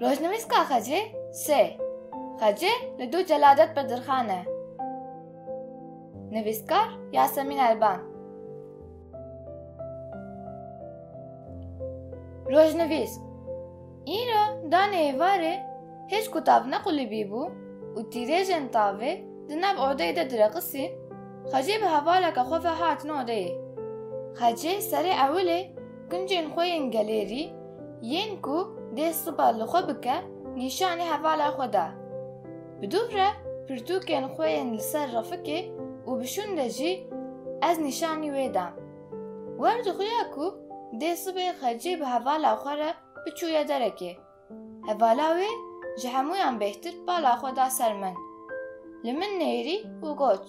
Rojnivîska xecê sê. Xecê li dû celadet bi dirxan e. Nivîskar Yasemîn Elban Rojnivîsk Îro danê êvarê hêj ku tav nequlîbî bû û tîrêjên tavê di nav odeyê de direqisîn, xecê bi hevaleke xwe ve hatin odeyê. Xecê serê ewilê Kuncên xwe yên gelêrî yên ku dê sipa li xwe bike nîşanî hevala xwe da. Bi dû re pirtûkên xwe yên li ser refikê û bi şûnde jî ez nîşanî wê da. Wer dixuya ku dê sibê xecî bi hevala xwe re biçûye derekê. Hevala wê ji hemûyan bêhtir bala xwe da ser min, li min nêrî û got,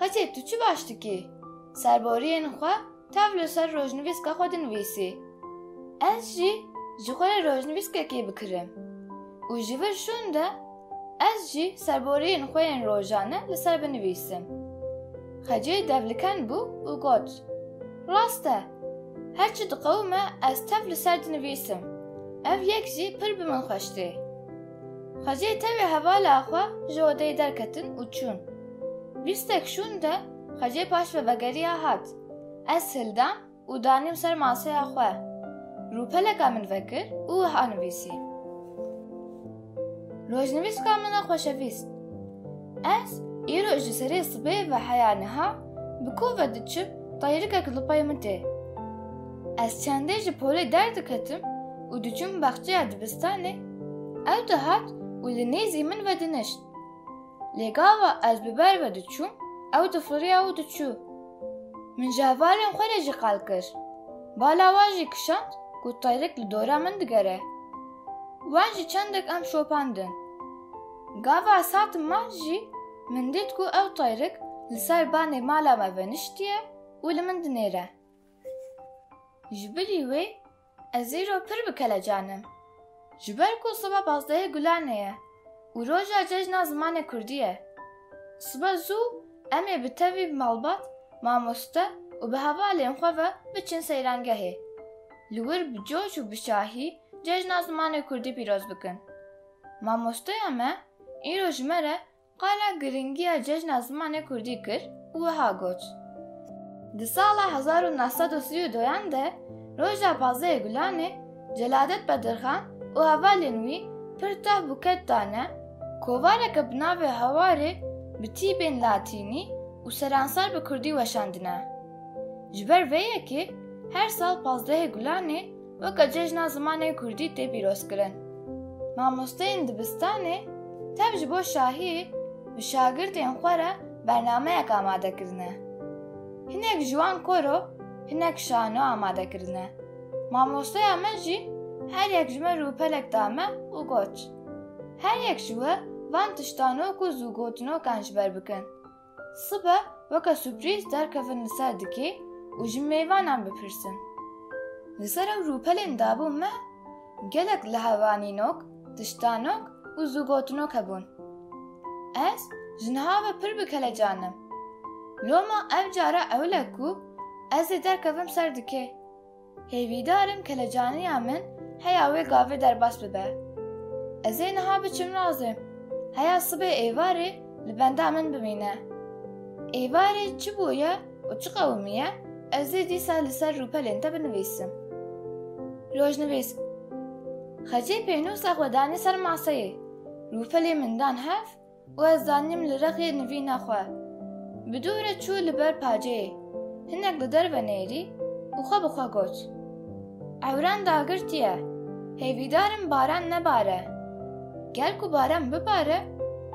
Xesê tu çi baş dikî, serboriyên xwe tev li ser rojnivîska xwe dinivîsî. Ez jî ji xwe re rojnivîskekê bikirim û ji vir şûn de Ez jî serboriyên xwe yên rojane li ser binivîsim. Xecê devliken bû û got, Rast e, her çi diqewime ez tev li ser dinivîsim. Ev yek jî pir bi min xweş tê. Xecê tevê hevala xwe ji odeyê derketin û çûn. Bîstek şûn de xecê paş ve vegeriya hat. Ez hildam û danîm ser maseya xwe. Rûpeleka min vekir û wiha nivîsî. Rojnivîska min e xweşevîst. Ez îroj li serê sibê ve heya niha bi ku ve diçim tayrikek li pey min tê. Ez çendê ji polê derdiketim û diçûm baxçeya dibistanê, ew dihat û li nêzî min vedinişt. Lê gava ez bi ber ve diçûm, ew difiriya û diçû. Min ji hevalên xwe re jî qal kir. Bala wan jî kişand ku tayrik li dora min digere. Wan jî çendek em şopandin. Gava ez hatim mal jî min dît ku ew tayrik li ser banê mala me veniştiye û li min dinêre. Ji bilî wê Ez îro pir bi kelecan im. Ji ber ku soba pazdehê gulanê ye û roja cejna zimanê kurdî ye. Sibe zû em ê bi tevî bi malbat, mamoste û bi hevalên xwe ve biçin seyrangehê. Li wir bi coş û bi şahî cejna zimanê kurdî pîroz bikin. Mamosteya me îro ji me re Qala girîngiya cejna zimanê kurdî kir û wiha got, Di sala hezar û neh sed û sî û doyan de Roja Pazdehê Gulanê Celadet Bedirxan û hevalên wî pir tah bûket dane kovareke bi navê Hawarê bi tîbên latînî û seransar bi kurdî weşandine. Ji ber vê yekê her sal Pazdehê Gulanê Weke cejna zimanê Kurdî tê pîrozkirin. Mamosteyên dibistanê tev ji bo şahî bi şagirtên xwe re bernameyek amade kirine. Hinek ji wan koro, hinek şano amade kirine. Mamosteya me jî her yek ji me rûpelek da me û got, Her yek ji we van tiştano ku zû gotinokan ji ber bikin. Sibe weke suprîz derkevin li ser dikê û ji mêvanan bipirsin. Li ser ew rûpelên dabû me gelek lihevanînok, tiştanok û zûgotinok hebûn. Ez ji niha ve pir bi kelecan im. Loma ev cara ewil e ku ez ê derkevim ser dikê. Hêvîdar im kelecaniya min heya wê gavê derbas bibe. Ez ê niha biçim razê, heya sibê êvarê li benda min bimîne. Êvarê çi bûye û çi qewimî ye ez ê dîsa li ser rûpelên te binivîsim. Rojnivîs, Xecê pênûsa xwe danî ser maseyê, rûpelê min dan hev Û ez zanîm li rexê nivîna xwe. Bi dû re çû li ber paceyê. Hinek li derve nêrî û xwe bi xwe got, Ewran dagirtiye, hêvîdar im baran nebare. Ger ku baran bibare,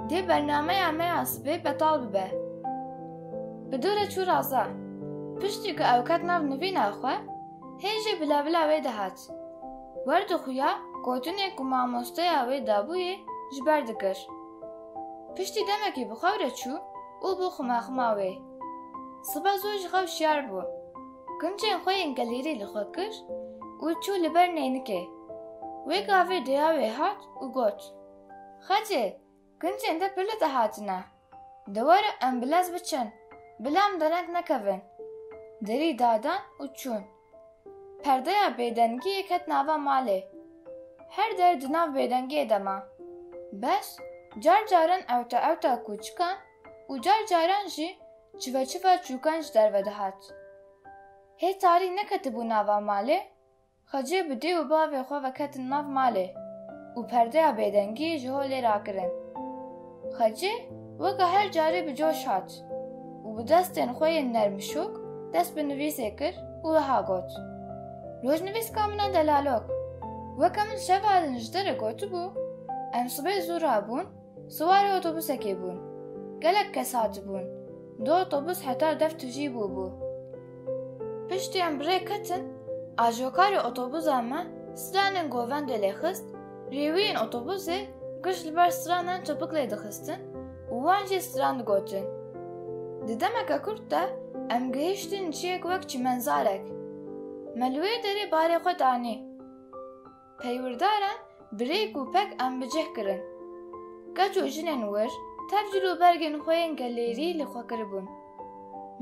dê bernameya me ya sibê betal bibe. Bi dû re çû raza. Piştî ku ew ket nav nivîna xwe, hê jî bila bila wê dihat. Werdo xuya gotinê ku mamosteya wê dabûyê ji ber dikir. Piştî demekê bi xew re çû û bû ximaxima wê. Sibe zû ji xew şiyar bû. Kincên xwe yên gelêrî li xwe kir û çû li ber neynikê. Wê gavê deya wê hat û got, Xecê! Kincên de pili dihatine. Di were em bi lez biçin, bila em dereng nekevin. Derî dadan û çûn. Perdeya bêdengiyê ket nava malê. Her der di nav bêdengiyê de ma. Beş, car caran ewta ewta kûçikan û car caran jî çive çiva çûkan ji derve dihat. Hê tarî neketibû nava malê, Xwecê bi dê û bavê xwe ve ketin nav malê û perdeya bêdengî ji holê rakirin. Xwecê weke her carî bi coş hat û bi destên xwe yên nermişûk dest bi nivîsê kir û wiha got, Rojnivîska min e delalok. Weke min şeva li nijderê gotibû, em sibê zû rabûn, Siwarê otobusekê bûn. Gelek kes hatibûn. Du otobus heta dev tujî bûbû. Piştî em bi rê ketin, ajokarê otobuza me stranên govendê lê xist, rêwiyên otobusê giş li ber stranan çepik lê dixistin û wan jî stran digotin. Di demeke kurt de em gihiştin ciyek wek çîmenzarek. Me li wê derê barê xwe danî. Peywirdaran bi rêk û pek em bi cih kirin. Keç û jinên wir tev cil û bergên xwe yên gelêrî li xwe kiribûn.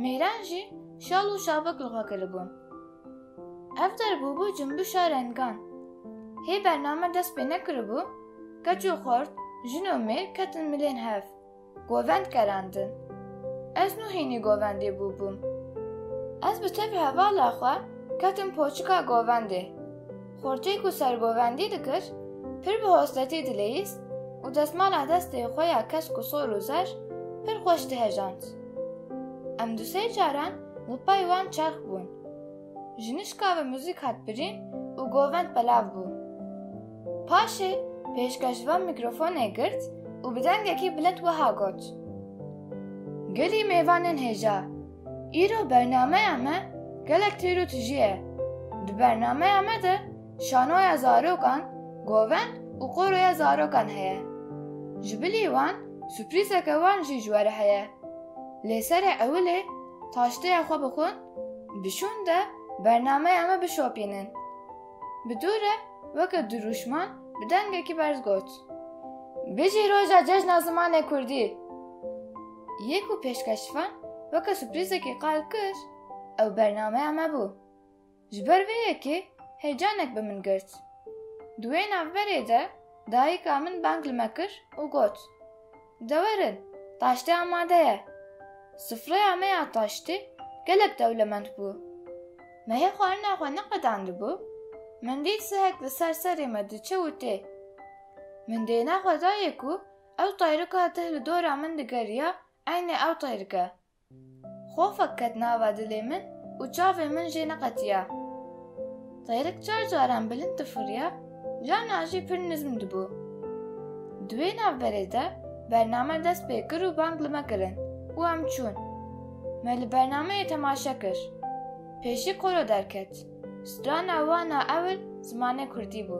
Mêran jî şal û şabik li xwe kiribûn. Ev derbûbû cumbişa rengan. Hê bername dest pê nekiribû, keç û xort, jin û mêr ketin milên hev. Govend kerandin. Ez nû hînî govendê bûbûm. Ez bi tevî hevala xwe ketim poçika govendê. Xortê ku sergovendî dikir, pir bi hosletî dileyîst û desmala destê xwe ya kesk û sor û zer pir xweş dihejand. Em du sê caran li pey wan çerx bûn. Jinişka bi muzîk hat birîn û govend belav bû. Paşê pêşkêş van mîkrofonê girt û bi dengekî bilind wiha got, Gelî mêvanên hêja, îro bernameya me gelek têr û tijî ye. Di bernameya me de şanoya zarokan, govend û qoroya zarokan heye. Ji bilî wan suprîzeke wan jî ji we re heye. Lê serê ewilê taşteya xwe bixwin, bi şûnde bernameya me bişopînin. Bi dû re weke dirûşman bi dengekî berz got, Bijî roja cejna zimanê kurdî! Yê ku pêşkeşvan weke suprîzekî qal kir, ew bernameya me bû. Ji ber vê yekê heyecanek bi min girt. Di wê navberê de dayika min bang li me kir û got, Dewer in, taştê amade ye. Sufreya me ya taştê gelek dewlemend bû. Me hê xwarina xwe neqedandibû, min dît sihek li ser serê me diçe û tê. Min dêna xwe dayê ku ew tayrika tih li dora min digeriya eynê ew tayrike. Xofek ket nava dilê min û çavên min jê neqetiya. Xêrik çar caran bilind difuriya, cana jî pir nizm dibû. Di wê navberê de bername dest pê kir û bang li me kirin û em çûn. Me li bernameyê temaşe kir. Pêşî koro derket. Strana wan a ewil zimanê kurdî bû.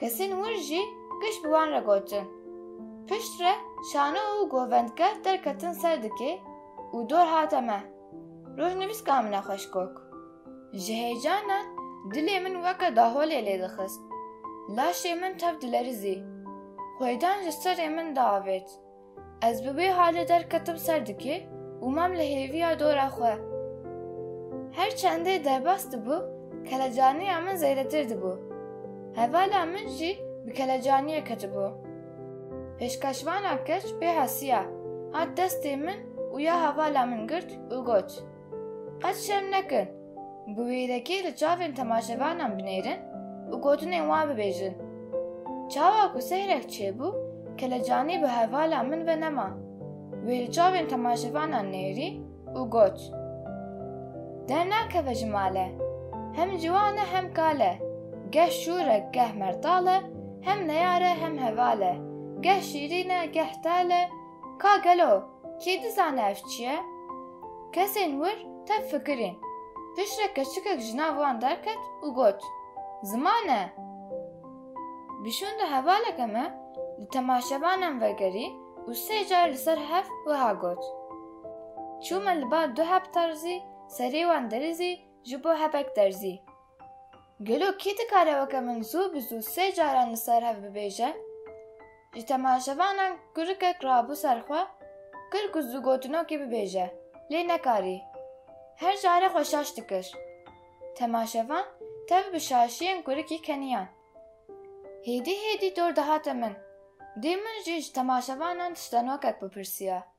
Kesên wir jî giş bi wan re gotin. Pişt re şano û govendke derketin ser dikê û dor hate me. Rojnivîs ka min e xweş kok. Ji heyecana dilê min weke daholê lê dixist. Laşê min tev dilerizî. Xwêdan ji serê min diavêt. Ez bi wê halê derketim ser dikê û mam li hêviya dora xwe. Her çendê derbas dibû, kelecaniya min zêdetir dibû. Hevala min jî bi kelecaniyê ketibû. Pêşkêşvana keç pê hesiya, hat destê min û ya hevala min girt û got. Qet şerm nekin. Bi wêrekê li çavên temaşevanan binêrin û gotinên wan bibêjin. Çawa ku sehrek çêbû kelecanî bi hevala min ve nema. Wê li çavên temaşevanan nêrî û got, Dernakeve ji male. Hem ciwan e hem kal e. Geh şûr e geh mertal e, hem neyar e hem heval e, geh şîrîn e geh tal e, Ka gelo kê dizane ev çi ye? Kesên wir tev fikirîn. Piştre keçikek ji nav wan derket û got, Ziman e! Bi şûnde hevaleke me li temaşebanan vegerî û sê car li ser hev wiha got, Çûme li ba du heb terzî, serê wan derizî ji bo hebek derzî. Gelo kî dikare weke min zû bi zû sê caran li ser hev bibêje? Ji temaşevanan kurikek rabû ser xwe, kir ku zû gotinokê bibêje, lê nekarî. Her care xwe şaş dikir. Temaşevan tev bi şaşiyên kurikî keniyan. Hêdî hêdî dor dihate min. Dê min jî ji temaşevanan tiştanokek bipirsiya.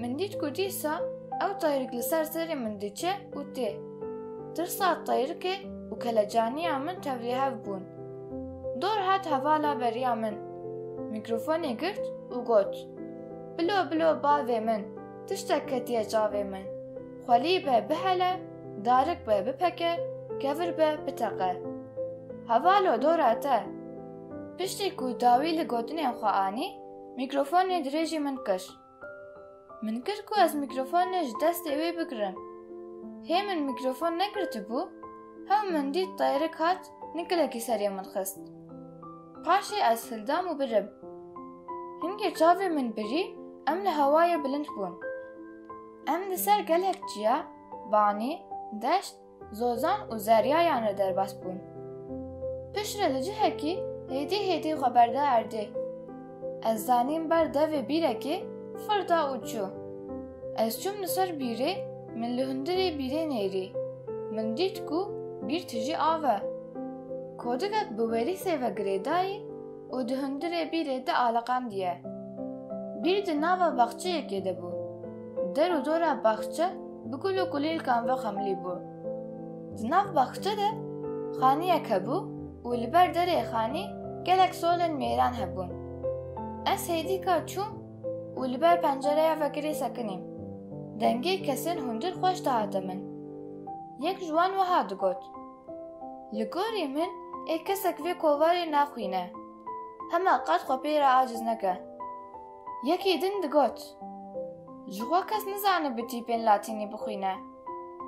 Min dît ku dîsa ew tayrik li ser serê min diçe û tê. Tirsa tayrikê û kelecaniya min tevlî hev bûn. Dor hat hevala beriya min. Mîkrofonê girt û got, Bilo bilo bavê min, tiştek ketiye çavê min. Xwelî be bihele, darik be bipeke, kevir be biteqe. Hevalo dora te! Piştî ku dawî li gotinên xwe anî, mîkrofonê dirêjî min kir. Min kir ku ez mîkrofonê ji destê wê bigirim. Hê min mîkrofon negirtibû, hew min dît Tayrik hat nikilekî serê min xist. Paşê ez hildam û birim. Hingê çavê min birî em li hewayê bilind bûn. Em li ser gelek çiya, banî, deşt, Zozan û Zeryayan re derbas bûn. Piştre li cihekî hêdî hêdî xwe berda erdê. Ez zanîm ber devê bîrekê fir da û çû. Ez çûm li ser bîrê min li hundirê bîrê nêrî. Min dît ku bîr tijî av e. Kodikek bi werîsê ve girêdayî û di hundirê bîrê di aliqandiye. Bîr di nava baxçeyekê de bû. Der û dora baxçe bi gul û kulîlkan ve xemlî bû. Di nav baxçe de xaniyek hebû û li ber derê xanî gelek solên mêran hebûn. Ez hêdîka çûm û li ber pencereya vekirî sekinîm. Dengê kesên hundir xweş dihate min. Yek ji wan wiha digot. Li gorî min ê kesek vê kovarê naxwîne, hema qat xwe pê re aciz neke. Yekî din digot, Ji xwe kes nizanibi tîpên latînî bixwîne.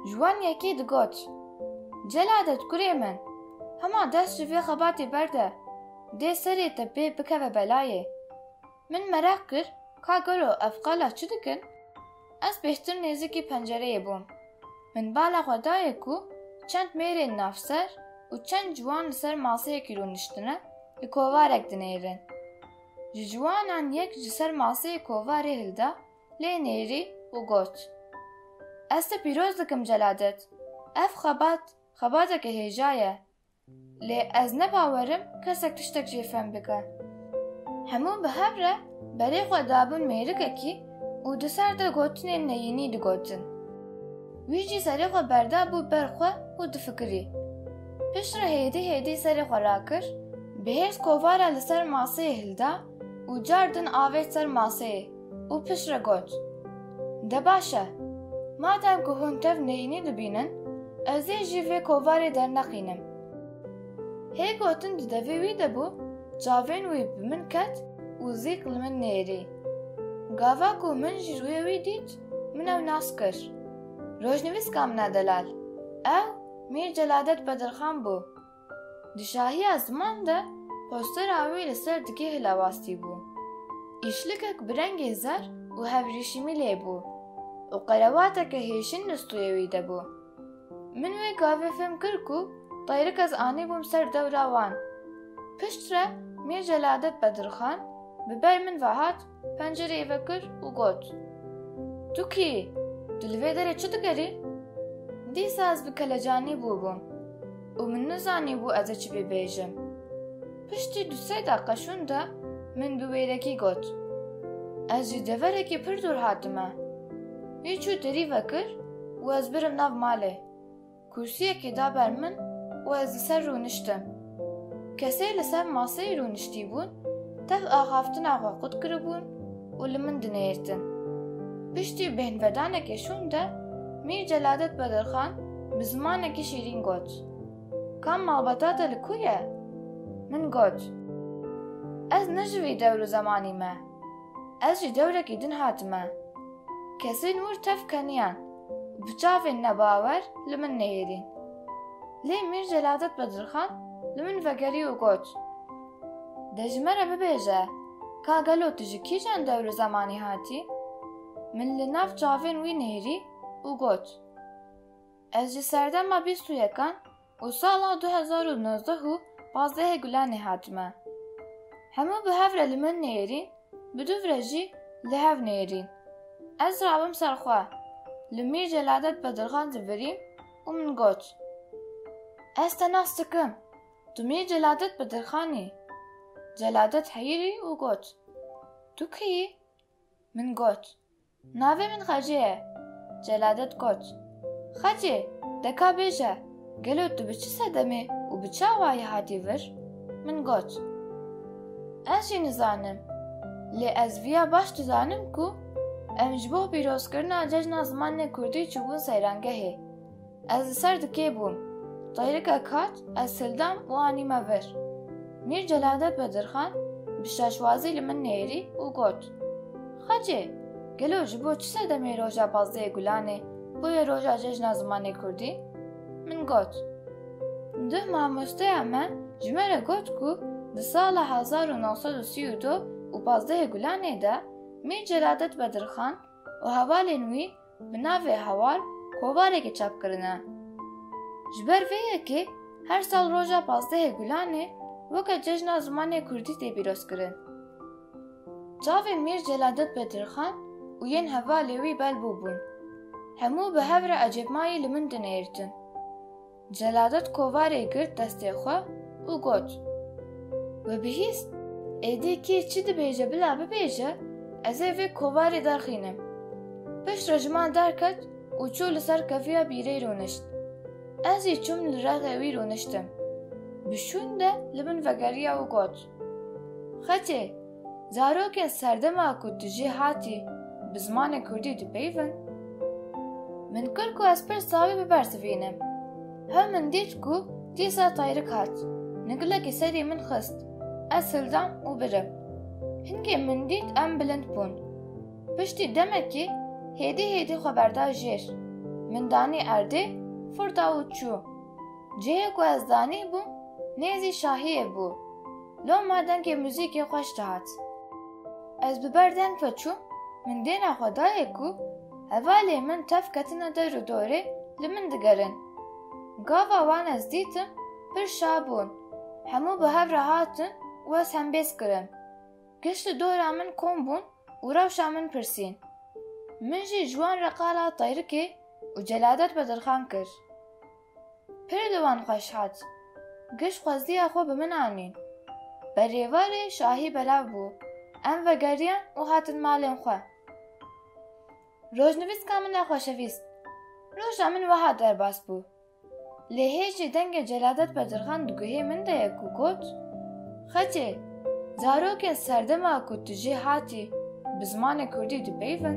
Ji wan yekî digot, Celadet kurê min, hema dest ji vê xebatê berde, dê serê te pê bikeve belayê. Min mereq kir ka gelo ev qala çi dikin? Ez bêhtir nêzikî pencereyê bûm. Min bala xwe dayê ku çend mêrên navser û çend ciwan li ser maseyekî rûniştine li kovarek dinêrin. Ji ciwanan yek ji ser maseyê kovarê hilda lê nêrî û got, Ez te pîroz dikim Celadet. Ev xebat, xebateke hêja ye. Lê ez ne bawerim kesek tiştek jê fem bike. Hemû bi hev re berê xwe dabûn mêrikekî û di ser de gotinên neyînî digotin. Wî jî serê xwe berdabû ber xwe û difikirî. Pişt re hêdî hêdî serê xwe rakir, bi hêrs kovara li ser maseyê hilda û car din avêt ser maseyê. Û piştre got, De baş e, madem ku hûn tev neyînî dibînin, ez ê jî vê kovarê derneqînim. Hê gotin di devê wî de bû, çavên wî bi min ket û zîk li min nêrî. Gava ku min ji rûyê wî dît, min ew nas kir. Rojnivîska min e Delal. Ew Mîr Celadet Bedirxan bû. Di şahiya ziman de postera wî li ser dikê hilewastî bû. Îşlikek bi rengê zer û hevrîşîmî lê bû û qerevateke hêşin li stûyê wî de bû. Min wê gavê fêm kir ku tayrika ez anîbûm ser dewra wan. Piştre Mîr Celadet Bedirxan bi ber min ve hat Pencereyê vekir û got, Tu kî? Tu li vê derê çi dikerî? Dîsa ez bi kelecanî bûbûm û min nizanîbû ez ê çi pê bêjim. Piştî du sê deqa şûn de min bi wêrekî got, Ez ji deverekî pir dûr hatime. Wî çû derî vekir û ez birim nav malê. Kursiyekê da ber min û ez li ser rûniştim. Kesê li ser maseyê rûniştîbûn tev axaftina xwe qut kiribûn û li min dinêrtin. Piştî bêhnvedanekê şûn de Mîr Celadet Bedirxan bi zimanekî şîrîn got, Ka malbata te li ku ye? Min got, Ez ne ji vî dewr û zemanî me. Ez ji dewrekî din hatime. Kesên wir tev keniyan. Bi çavên nebawer li min neyêrîn. Lê Mîr Celadet Bedirxan li min vegerî û got, De ji me re bibêje, ka gelo tu ji kîjan dewr û zemanî hatî? Min li nav çavên wî nihêrî û got, Ez ji serdema bîst û yekan û sala du hezar û nozdeh û pazdehê Gulanê hat me. Hemû bi hev re li min neyêrîn, bi du re jî li hev neyêrîn. Ez rabim ser xwe, li Mîr Celadet Bedirxan divirîm û min got, Ez te nas dikim, tu Mîr Celadet Bedirxan î. Celadet heyirî û got, Tu kî yî? Min got, Navê min Xecê ye. Celadet Koç, Xecê, de ka bêje, gelo tu bi çi sedemê û bi çi awayî hatî vir? Min got, Ez jî nizanim, lê ez vîya baş dizanim ku em ji bo pîrozkirina cejna zimanê kurdî çûbûn seyrangehê. Ez li ser dikê bûm. Tayrikek hat, ez hildam û anî me vir. Mîr Celadet Bedirxan bi şaşwazî li min nêrî û got, Xecê, gelo ji bo çi sedemê roja pazdehê Gulanê bûye roja Cejna Zimanê Kurdî? Min got, Duh mamosteya me ji me re got ku di sala hezar û neh sed û sî û du û pazdehê Gulanê de Mîr Celadet Bedirxan û hevalên wî bi navê Heval kovarekê çap kirine. Ji ber vê yekê her sal roja pazdehê Gulanê weke cejna zimanê Kurdî tê pîrozkirin. Çavên Mîr Celadet Bedirxan û yên hevalê wî belbû bûn. Hemû bi hev re ecêbmayî li min dinêrtin. Celadet kovarê girt destê xwe û got, We bihîst, êdî kî çi dibêje bila bibêje, ez ê vê kovarê derxînim. Piştre ji man derket û çû li ser kefiya bîrê rûnişt. Ez jî çûm li rexê wî rûniştim. Bi şûn de li min vegeriya û got. Xetê, zarokên serdema ku tu jê hatî bi zimanê kurdî dipeyivin, min kir ku ez pirsa wî bibersivînim. Hev min dît ku dîsa Tayrik hat, nigilekî serî min xist, ez hildam û birim. Hingê min dît em bilind bûn. Piştî demekî hêdî hêdî xwe berda jêr, min danî erdê, firda û çû. Cihê ku ez danî bû nêzî şahiyê bû. Loma dengê muzîkê xweş dihat. Ez bi ber deng ve çûm, min dêna xwe dayê ku hevalên min tev ketine der û dorê li min digerin. Gava wan ez dîtim pir şa bûn. Hemû bi hev re hatin û ez hembêz kirim. Giş li dora min kom bûn û rewşa min pirsîn. Min jî ji wan re qala tayrikê û celadet bedirxan kir. Pir di wan xweş hat. Giş xweziya xwe bi min anî. Berêvarê şahî belav bû. Em vegeriyan û hatin malên xwe. Rojnivîska min e xweşevîst. Roja min wiha derbas bû. Lê hêj jî dengê Celadet Bedirxan di guhê min de ye ku got. Xetê, zarokên serdema ku tu jê hatî bi zimanê kurdî dipeyivin.